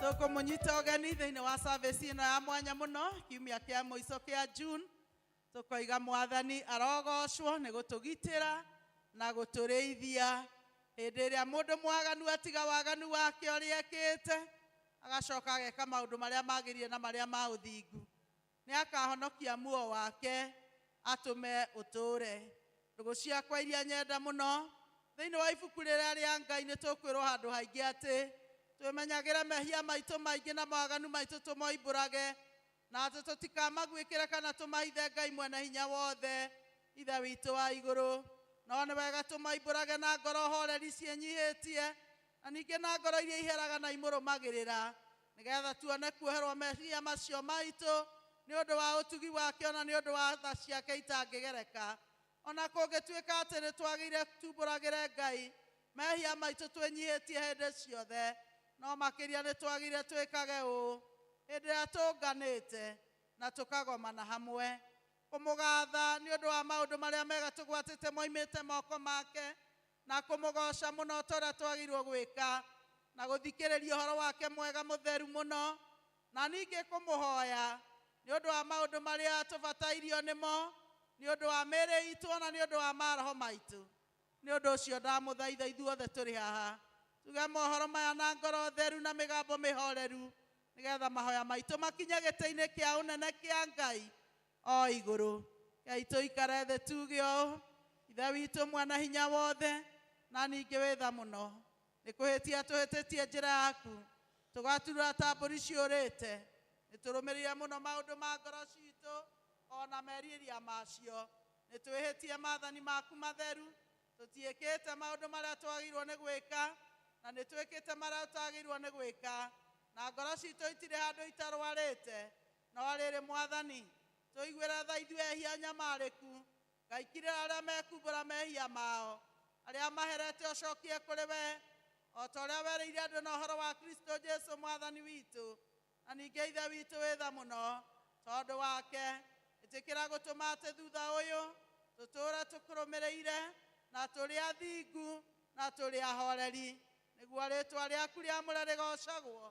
tũkũmũnyita ũgeni thĩinĩ wa service ĩno ya mwanya mũno kiumia kĩa mũico kĩa June tũkoiga mwathani arogocwo nĩ gũtũgitĩra na gũtũrĩithia hĩndĩ ĩrĩa mũndũ mwaganu atiga waganu wake ũrĩa ekĩte agacoka ageka maũndũ marĩa magĩrĩire na marĩa ma ũthingu Nĩakahonokia muoyo wake, atũme ũtũũre. Ndũgũ ciakwa iria nyenda mũno, thĩinĩ wa ibuku rĩrĩa rĩa Ngai nĩtũkwĩrwo handũ haingĩ atĩ, Twĩmenyagĩre mehia maitũ maingĩ na mawaganu maitũ tũmoimbũrage, na atĩ tũtikamaguĩkĩre kana tũmahithe Ngai Mwene-Hinya-Wothe, Ithe witũ wa igũrũ. No nĩ wega tũmoimbũrage na ngoro hooreri ciĩnyihĩtie, na ningĩ na ngoro iria iheraga na imũrũmagĩrĩra, Nĩgetha tuone kuoherwo meciria macio maitũ nĩ ũndũ wa ũtugi wake o na nĩ ũndũ wa tha ciake itangĩgereka. O na kũngĩtuĩka atĩ nĩ twagĩire tumbũragĩre Ngai mehia maitũ twĩnyihĩtie hĩndĩ ciothe, no makĩria nĩ twagĩire twĩkage ũũ hĩndĩ ĩrĩa tũũnganĩte na tũkagomana hamwe, kũmũgatha nĩ ũndũ wa maũndũ marĩa mega tũgwatĩte moimĩte moko make, na kũmũgooca mũno o ta ũrĩa twagĩrĩirwo gwĩka, na gũthikĩrĩria ũhoro wake mwega mũtheru mũno, na ningĩ kũmũhoya nĩ ũndũ wa maũndũ marĩa tũbatairio nĩmo, nĩ ũndũ wa mĩĩrĩ itũ o na nĩ ũndũ wa maroho maitũ. Nĩ ũndũ ũcio ndamũthaitha ithuothe tũrĩ haha tuge mohoro maya na ngoro theru na mĩgambo mĩhoreru, nĩgetha mahoya maitũ makinye gĩtĩ-inĩ kĩa ũnene kĩa Ngai, O igũrũ gaitũ ikare thĩ tuge ũũ, Ithe witũ Mwene-Hinya-Wothe, na ningĩ wĩ tha mũno, nĩ kũhĩtia tũhĩtĩtie njĩra yaku, tũgaturũra ta mbũri ciũrĩte, nĩ tũrũmĩrĩire mũno maũndũ ma ngoro citũ, o na merirĩria macio, nĩ twĩhĩtie maathani maku matheru, tũtiĩkĩte maũndũ marĩa twagĩrĩirwo nĩ gwĩka, na nĩ twĩkĩte marĩa tũtagĩrĩirwo nĩ gwĩka, na ngoro citũ itirĩ handũ itarwarĩte, No rĩrĩ, Mwathani, tũiguĩre tha ithuĩ ehia anyamarĩku, Ngai, kirĩra arĩa mekumbũra mehia mao, arĩa maherete ũcokie kũrĩ we, o ta ũrĩa werĩire andũ na ũhoro wa Kristo Jesu Mwathani witũ, na ningĩ Ithe witũ wĩ tha mũno tondũ wake, ĩtĩkĩra gũtũma atĩ thutha ũyũ tũtũũre tũkũrũmĩrĩire, na tũrĩ athingu, na tũrĩ ahoreri, nĩguo rĩĩtwa rĩaku rĩamũre rĩgoocagwo.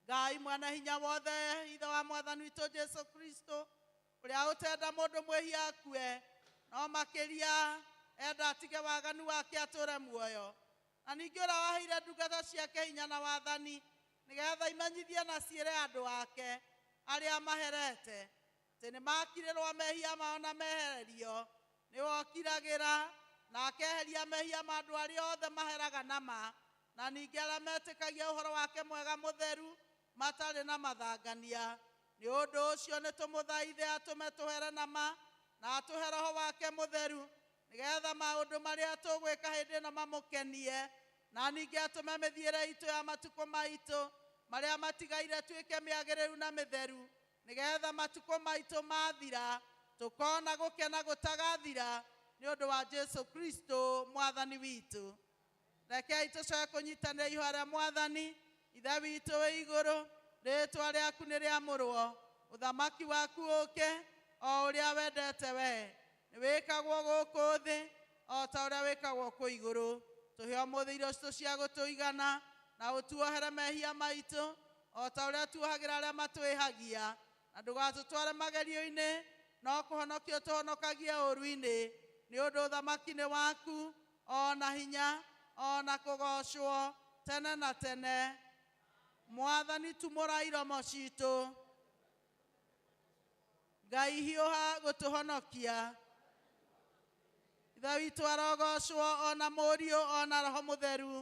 Ngai mwene hinya wothe, Ithe wa Mwathani witũ Jesu Kristo, ũrĩa ũtenda mũndũ mwĩhia akue, no makĩria enda atige waganu wake atũũre muoyo, na ningĩ ũrĩa waheire ndungata ciake hinya na wathani, nĩgeetha imenyithie na ciĩre andũ ake arĩa amaherete. Atĩ nĩmakirĩrwo mehia mao na mehererio, nĩwe ũkiragĩra, na akeheria mehia ma andũ arĩa othe maheraga na ma, na ningĩ arĩa metĩkagia ũhoro wake mwega mũtheru matarĩ na mathangania. Nĩ ũndũ ũcio nĩtũmũthaithe atũme tũhere na ma, na atũhe Roho wake mũtheru, nĩgeetha maũndũ marĩa tũgwĩka hĩndĩ ĩno mamũkenie, na ningĩ atũme mĩthiĩre iitũ ya matukũ maitũ marĩa matigaire ĩtuĩke mĩagĩrĩru na mĩtheru. Nĩgeetha matukũ maitũ maathira, tũkoona gũkena gũtagathira nĩ ũndũ wa Jesũ Kristũ Mwathani witũ. Rekei tũcoke kũnyiitanĩra ihooya rĩa Mwathani. Ithe witũ wĩ igũrũ, rĩĩtwa rĩaku nĩ rĩamũrwo. Ũthamaki waku ũũke, o ũrĩa wendete wee, nĩ wĩkagwo gũkũ thĩ, o ta ũrĩa wĩkagwo kũu igũrũ. Tũhe ũmũthĩ irio citũ cia gũtũigana, na ũtuohere mehia maitũ, O ta ũrĩa tuohagĩra arĩa matwĩhagia. Na ndũgatũtware magerio-inĩ, no kũhonokia ũtũhonokagie ũũru-inĩ, nĩ ũndũ ũthamaki nĩ waku, o na hinya, o na kũgoocwo, tene na tene. Mwathani, tumũra iromo ciitũ. Ngai, hiũha gũtũhonokia. Ithe witũ arogoocwo, o na Mũriũ, o na Roho Mũtheru.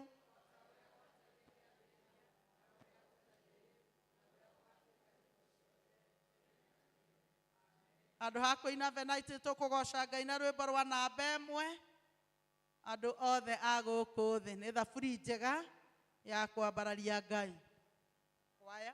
Handũ ha kũina venaitĩ tũkũgoca Ngai na rwĩmbo rwa namba ĩmwe andũ othe a gũkũ thĩ. Nĩ thaburi njega ya kwambararia Ngai. Kwaya.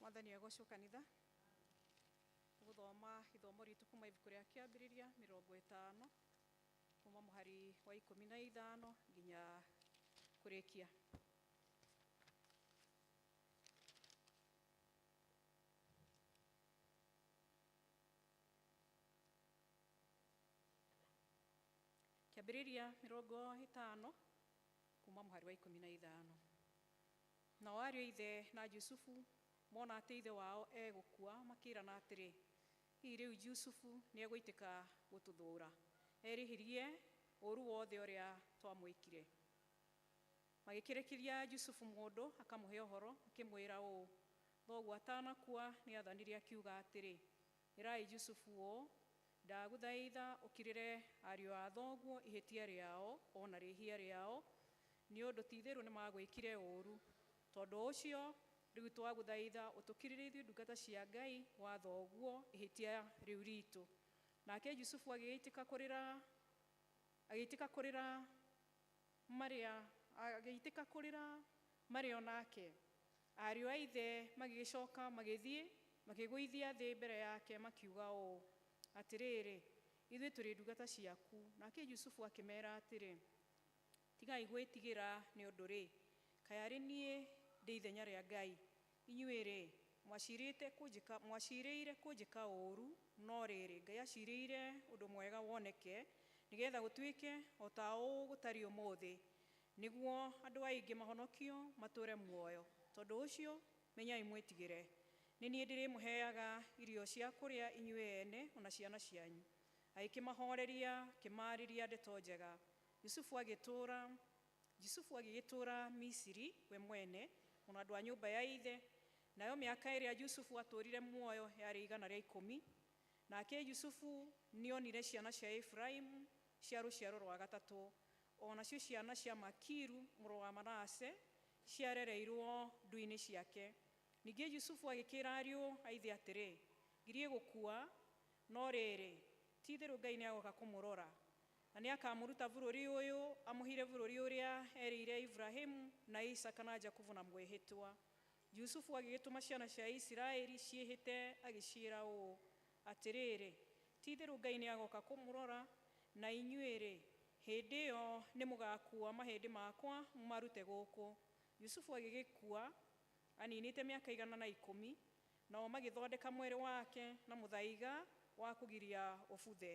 mwathani egocwo kanitha gũthoma ithomo ritũ kuma ibuku rĩa kĩambĩrĩria mĩrongo ĩtano kuma mũhari wa ikũmi na ithano nginya kũrĩkia kĩambĩrĩria mĩrongo ĩtano kuma mũhari wa ikũmi na ithano Nao ariũ a ithe na Jusufu mona atĩ ithe wao egũkua, makĩĩrana atĩrĩ, Hihi rĩu Jusufu nĩegũitĩka gũtũthũũra, erĩhĩrie ũũru wothe ũrĩa twamwĩkire? Magĩkĩrĩkĩria Jusufu mũndũ akamũhe ũhoro, akĩmwĩra ũũ, Thoguo atanakua nĩathanire akiuga atĩrĩ, Ĩrai Jusufu ũũ, 'Ndagũthaitha ũkirĩre ariũ a thoguo ihĩtia rĩao o na rĩhia rĩao, nĩ ũndũ ti-itherũ nĩmagwĩkire ũũru. Tondũ ũcio, rĩu twagũthaitha ũtũkirĩre ithuĩ ndungata cia Ngai wa thoguo ihĩtia rĩu ritũ. Nake Jusufu agĩitĩka kũrĩra, agĩitĩka kũrĩra. Marĩa, agĩitĩka kũrĩra marĩ o nake. Ariũ a ithe magĩgĩcoka magĩthiĩ, makĩgũithia thĩ mbere yake, makiuga ũũ, Atĩrĩrĩ, ithuĩ tũrĩ ndungata ciaku. Nake Jusufu akĩmeera atĩrĩ, Tigai gwĩtigĩra nĩ ũndũ-rĩ, kaĩ arĩ niĩ ndĩ ithenya rĩa Ngai? Inyuĩ-rĩ, mwaciirĩte kũnjĩka, mwaciirĩire kũnjĩka ũũru, no rĩrĩ, Ngai aciirĩire ũndũ mwega woneke, nĩ geetha gũtuĩke o ta ũũ gũtariĩ ũmũthĩ, nĩguo andũ aingĩ mahonokio matũũre muoyo. Tondũ ũcio, menyai mwĩtigĩre. Nĩ niĩ ndĩrĩmũheaga irio cia kũrĩa inyuĩ ene o na ciana cianyu. Agĩkĩmahooreria, akĩmaarĩria ndeto njega. Yusufu agĩtũũra Jusufu agĩgĩtũũra Misiri we mwene, o na andũ a nyũmba ya ithe, nayo mĩaka ĩrĩa Jusufu aatũũrire muoyo yarĩ igana rĩa ikũmi. Nake Jusufu nĩoonire ciana cia Efiraimu cia rũciaro rwa gatatũ, o nacio ciana cia Makiru mũrũ wa Manase, ciarereirũo ndu-inĩ ciake. Ningĩ Jusufu agĩkĩĩra ariũ a ithe atĩrĩ, Ngiriĩ gũkua, no rĩrĩ, ti-itherũ Ngai nĩagooka kũmũrora, Na nĩakamũruta bũrũri ũyũ, amũhire bũrũri ũrĩa eerĩire Iburahĩmu, na Isaaka, na Jakubu, na mwĩhĩtwa. Jusufu agĩgĩtũma ciana cia Isiraeli ciĩhĩte, agĩciĩra ũũ, Atĩrĩrĩ, ti-itherũ Ngai nĩagooka kũmũrora, na inyuĩ-rĩ, hĩndĩ ĩyo nĩmũgakuua mahĩndĩ makwa mũmarute gũkũ. Jusufu agĩgĩkua aniinĩte mĩaka igana na ikũmi, nao magĩthondeka mwĩrĩ wake na mũthaiga wa kũgiria ũbuthe.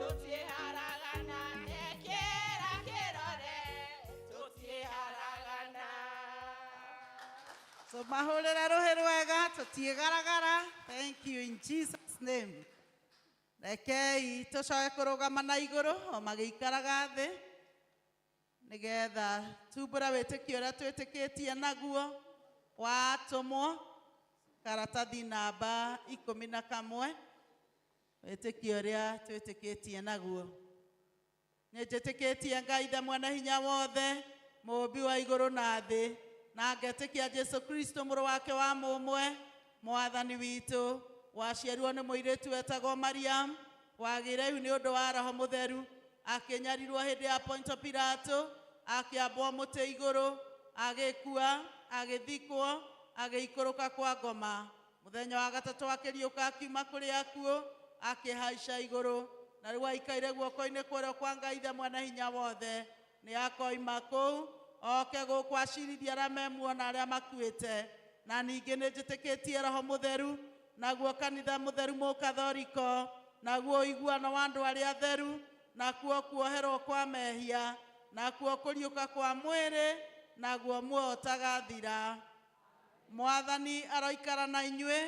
tũtiharagana ekĩra kĩrore tũtiharagana So mahũrĩre rũhĩ rwega tũtiĩgaragara. Thank you in Jesus name. Rekei tũcoke kũrũgama na igũrũ o magĩikaraga thĩ nĩgetha tumbũre wĩtĩkio ũrĩa twĩtĩkĩtie naguo watũmwo karatathi namba ikũmi na kamwe. Wĩtĩkio ũrĩa twĩtĩkĩtie naguo. Nĩnjĩtĩkĩtie Ngai Ithe Mwene-Hinya-Wothe, Mũũmbi wa igũrũ na thĩ, na ngetĩkia Jesũ Kristo Mũrũ wake wa mũmwe, Mwathani witũ, waciarirwo nĩ mũirĩtu wetagwo Mariam, wagĩire ihu nĩ ũndũ wa Roho Mũtheru, akĩnyarirwo hĩndĩ ya Ponto Pilato, akĩambwo mũtĩ igũrũ, agĩkua, agĩthikwo, agĩikũrũka kwa ngoma. Mũthenya wa gatatũ akĩriũka akiuma kũrĩ akuũ, akĩhaica igũrũ, na rĩu aikaire guoko-inĩ kwa ũrĩo kwa Ngai Ithe Mwene-Hinya-Wothe. Nĩakoima kũu, oke gũkũ aciirithie arĩa memuona arĩa makuĩte. Na ningĩ nĩnjĩtĩkĩtie Roho Mũtheru, naguo kanitha mũtheru Mũkathoriko, naguo ũiguano wa andũ arĩa atheru, nakuo kuoherwo kwa mehia, nakuo kũriũka kwa mwĩrĩ, naguo muoyo ũtagathira. Mwathani aroikara na inyuĩ.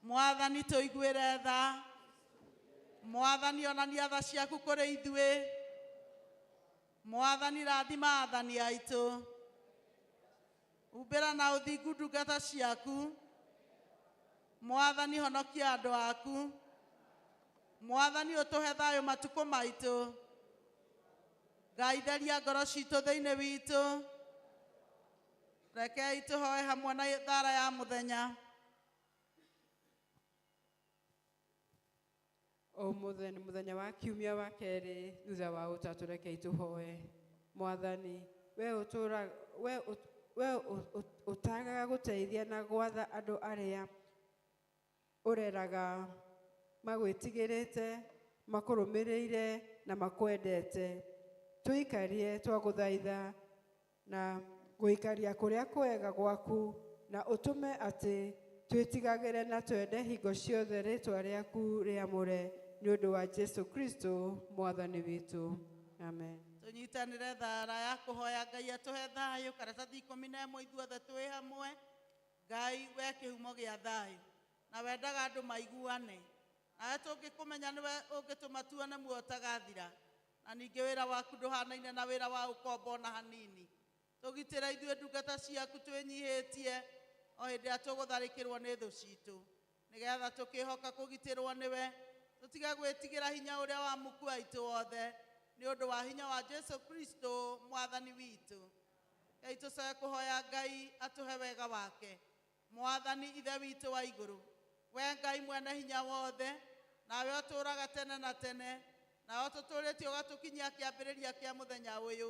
Mwathani tũiguĩre tha. Mwathani onania tha ciaku kũrĩ ithuĩ. Mwathani rathima athani aitũ. Umbĩra na ũthingu ndungata ciaku. Mwathani honokia andũ aku. Mwathani ũtũhe thayũ matukũ maitũ. Ngai, theria ngoro citũ thĩinĩ witũ. Rekei tũhoe hamwe na thara ya mũthenya. Ũmũthĩ nĩ mũthenya wa kiumia wa kerĩ thutha wa ũtatũ, rekei tũhoe. Mwathani, we ũtũra we we ũtagaga gũteithia na gwatha andũ arĩa ũreraga magwĩtigĩrĩte, makũrũmĩrĩire na makwendete. Tũikarie twagũthaitha na gũikaria kũrĩa kwega gwaku na ũtũme atĩ twĩtigagĩre na twende hingo ciothe rĩtwa rĩaku rĩamũre nĩ ũndũ wa Jesu Kristo Mwathani witũ. Amen. tũnyitanĩre thara ya kũhoya ngai atũhe thayũ karatathi ikũmi na ĩmwe ithuothe twĩ hamwe Ngai, wee kĩhumo gĩa thayũ. Na wendaga andũ maiguane. Nawe tũngĩkũmenya nĩwe ũngĩtũma tuone muoyo ũtagathira. Na ningĩ wĩra waku ndũhanaine na wĩra wa ũkombo o na hanini. Tũgitĩre ithuĩ ndungata ciaku twĩnyihĩtie o hĩndĩ ĩrĩa tũgũtharĩkĩrwo nĩ thũ citũ. Nĩgetha tũkĩhoka kũgitĩrwo nĩwe, tũtige gwĩtigĩra hinya ũrĩa wa muku aitũ wothe, nĩ ũndũ wa hinya wa Jesu Kristo Mwathani witũ. Rei tũcoke kũhoya Ngai atũhe wega wake. Mwathani Ithe witũ wa igũrũ, wee Ngai Mwene-Hinya-Wothe, nawe ũtũũraga tene na tene, nawe ũtũtũũrĩtie ũgatũkinyia kĩambĩrĩria kĩa mũthenya ũyũ,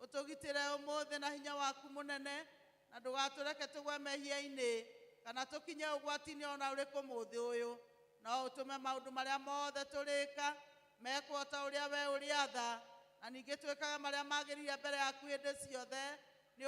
ũtũgitĩre ũmũthĩ na hinya waku mũnene, na ndũgatũreke tũgwe mehia-inĩ kana tũkinye ũgwati-inĩ o na ũrĩkũ ũmũthĩ ũyũ, no ũtũme maũndũ marĩa mothe tũrĩka Mekwo o ta ũrĩa wee ũrĩatha, na ningĩ twĩkage marĩa magĩrĩire mbere yaku hĩndĩ ciothe, nĩ ũndũ